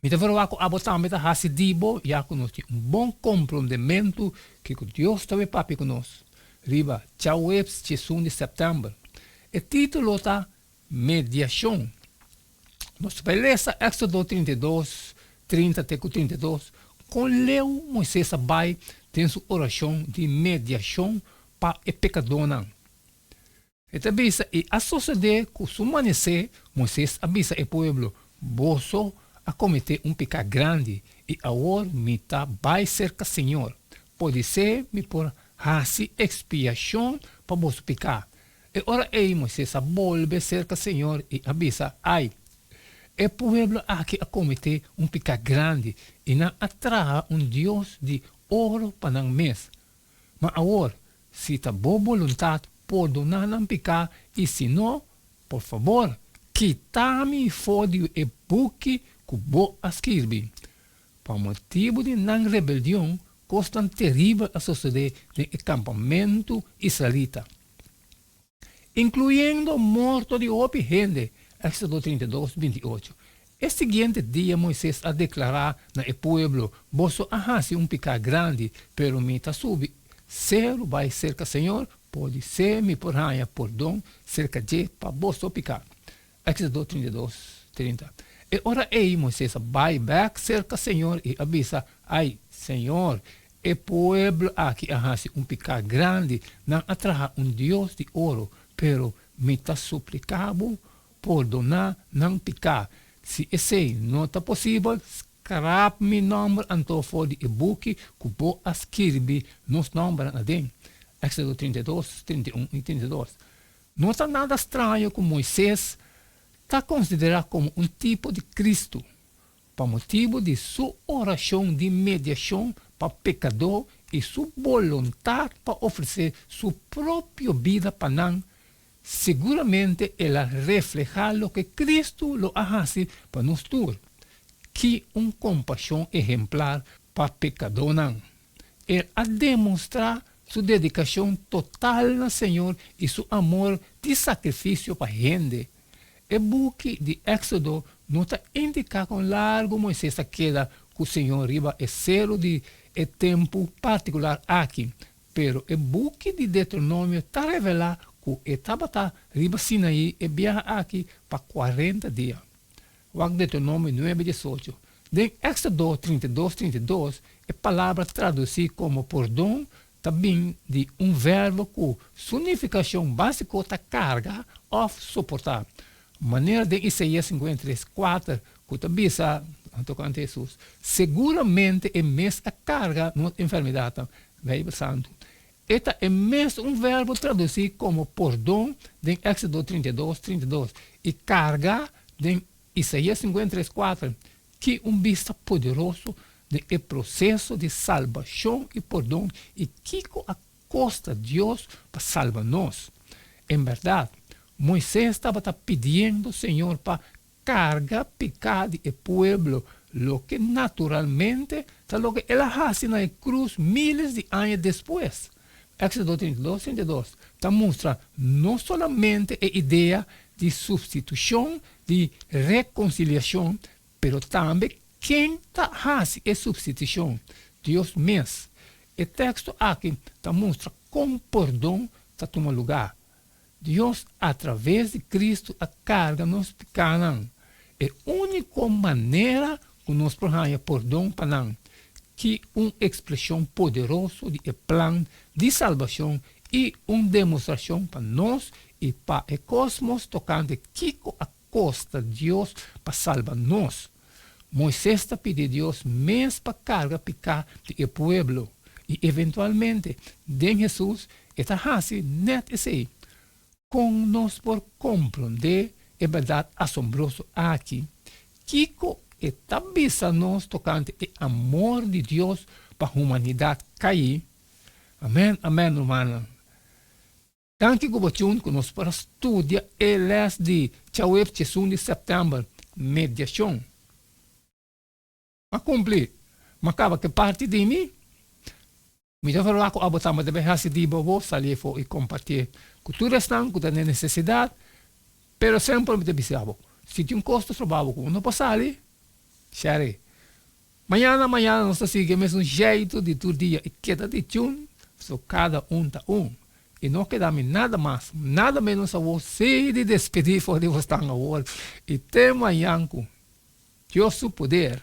Mi ta verba cu abo tambe ta haci di bo ya cu nos tin un bon comprondementu kico Dios ta wipapia cu nos riba Tjauwebs tjiesun di September. E titulo ta Mediacion. Nos ta bay lesa Exodo trinta i dos, trinta te cu trinta i dos, con leu Moises a bay den su oracion di mediacion pa e pecadornan. E ta bisa, I a sosodé ku su manesé, Moises a bisa e pueblo, Boso a kometé un peká grandi, i awor mi ta bai serka señor. Podisé mi por hasi ekspiashon pa boso peká. E ora ei Moises a bolbe serka señor i a bisa, Ai, e pueblo aki a kometé un peká grandi, i nan a traha un dios di oro pa nan mes. Ma awor, si ta bo boluntat, pordona nan piká, i si no, por fabor, kitá mi for di e buki ku bo a skirbi. Pa motibu di nan rebeldion, kosnan teribel a sosodé den e kampamentu israelita. incluyendo morto di hopi hende, Exodo trinta i dos, binti i ocho. E siguiente dia Moises a declara na e pueblo, Boso a haci un pecá grandi, pero mi ta subi ceru bai cerca Señor, podiser mi por haña pordon cerca dje pa boso pecá. Éxodo dos, trinta i dos, trinta E ora ei Moises a bai bèk serka señor i a bisa, Ai, señor, e pueblo aki a hasi un piká grandi, nan a traha un dios di oro, pero mi ta supliká bo, pordoná nan piká. Si esei no ta posibel, skrap mi nòmber anto for di e buki ku bo a skirbi nos nòmbernan aden. Éxodo dos, trinta i dos, trinta i un i trinta i dos No ta nada straño cu Moises ta considera como un tipo di Cristo pa motibu di su oracion di mediacion pa pecador y su boluntad pa ofrece su propio bida pa nan, seguramente el a refleha loke Cristo lo a haci pa nos tur, ki un compasion ehemplar pa pecadornan el a demonstra Su dedikashon total na Señor i su amor di sakrifisio pa hende. E buki di Éksodo no ta indiká kon largu Moises ta keda ku Señor riba e seru di e tempu partikular aki, pero e buki di Detronomio ta revelá ku e tabata riba Sinaí e biaha aki pa kuarenta dia. wak Deuteronomio nuebe diesocho, den Exodo trinta i dos, trinta i dos, e palabra traduci como pordon ta bin di un verbo cu su nificacion basico ta carga of soporta, manera den Isaia cincuenta i tres, kuater, cu ta bisa tocante Jesus, Seguramente e mes a carga nos enfermedadnan, Bijbel Santu. E ta e mes un verbo traducí como pordon den Éxodo trinta i dos, trinta i dos, i carga den Isaías sinkuenta i tres, kuater. Ki un bista poderoso den e proseso di salbashon i pordon, i kiko a kosta Dios pa salba nos! En bèrdat, Moises tabata pidiendo Señor pa carga pecá di e pueblo, loke naturalmente ta loke el a haci na e cruz miles di aña despues. Éxodo treinta i dos, treinta i dos, ta mustra no solamente e idea di substitucion di reconciliacion, pero tambe ken ta haci e substitucion, Dios mes. E texto aki ta mustra kon pordon ta tuma lugá. Dios a traves di Cristo a carga nos picanan. E unico manera cu nos por haya pordon pa nan ki un expresion poderoso di e plan di salbacion y un demostracion pa nos y pa e cosmos tocante kico a kos ta Dios pa salba nos. Moises ta pidi Dios mes pa karga piká di e pueblo, i eventualmente den Hesus e ta hasi nèt esei. Kon nos por komprondé e bèrdat asombroso aki? Kiko e ta bisa nos tokante e amor di Dios pa humanidat kaí? Amèn, amèn, rumannan. Tanti ku bo tjun ku nos para studia e lès di Chaweb Chesun di Sèptèmber, Mediashon. A kumpli, m'a kaba ke parti di mi. Mi ta horba ku abo tambe ta bin hasi di bobo sali afó i kompartié ku tur esnan ku ta den nesesidat, pero semper mi ta bis'abo, si tin kos ta soba bo ku bo no por sali, share. Mañana mañana nos ta sigui e mesun jeito di tur dia i keda di tjun, so kada un ta un. I no keda mi nada mas, nada menos awor si di despedí for di Wostan awor i te mañan ku Dios su poder.